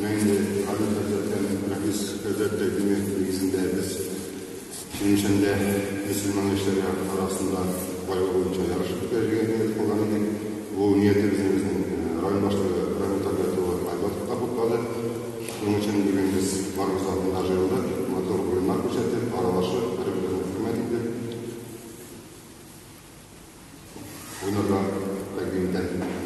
Мәңге Радио Хәзрәттән Рәфис хәзрәт тәкъдиме нигезендә без Чирмешәндә мөселман яшьләре арасында байлык буенча ярыш үткәрергә ният кылган идек. Бу ниятебезне безнең район башлыгы Рамил Табигать улы Айбатов та хуплады. Шуның өчен бүген без барыбыз да монда җыелдык, матур уеннар күрсәтеп, аралашып, бер-беребезне хөрмәт итеп уйнарга тәкъдим итәм.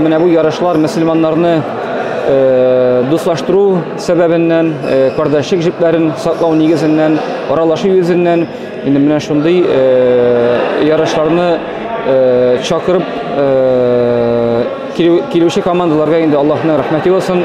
Менә бу ярышлар мөселманнарны э, дуслаштыру сәбәбеннән, э, кардәшлек җепләрен саклау нигезеннән, аралашу йөзеннән инде менә шундый э, ярышларны э, чакырып э, килүче командаларга инде Аллаһның рәхмәте булсын.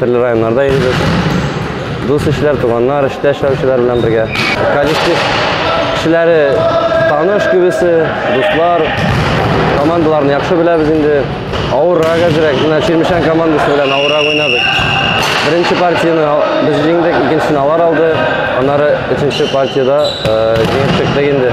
Төрле районнарда йөрибез. Дус ишләр, туганнар, эштә эшләүчеләр белән бергә. Коллектив кешеләре таныш күбесе, дуслар, командаларны яхшы беләбез инде. Авыррак әзрәк, менә Чирмешән командасы белән авыррак уйнадык. Беренче партияне без җиңдек, икенчесен алар алды. Аннары өченче партияда җиңеп чыктык инде.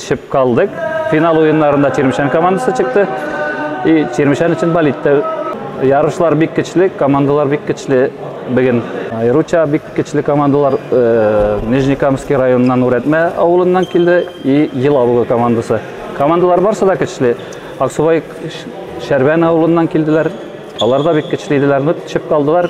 Төшеп калдык. Финал уеннарында Черемшән командасы чыкты. И Черемшән өчен болит тә. Ярышлар бик көчле, командалар бик көчле бүген. Айруча бик көчле командалар э, Нижнекамский районыннан Үрәтмә авылыннан килде и Елабуга командасы. Командалар барсы да көчле. Аксубай Шәрбән авылыннан килделәр. Алар да бик көчле иделәр, но төшеп калдылар.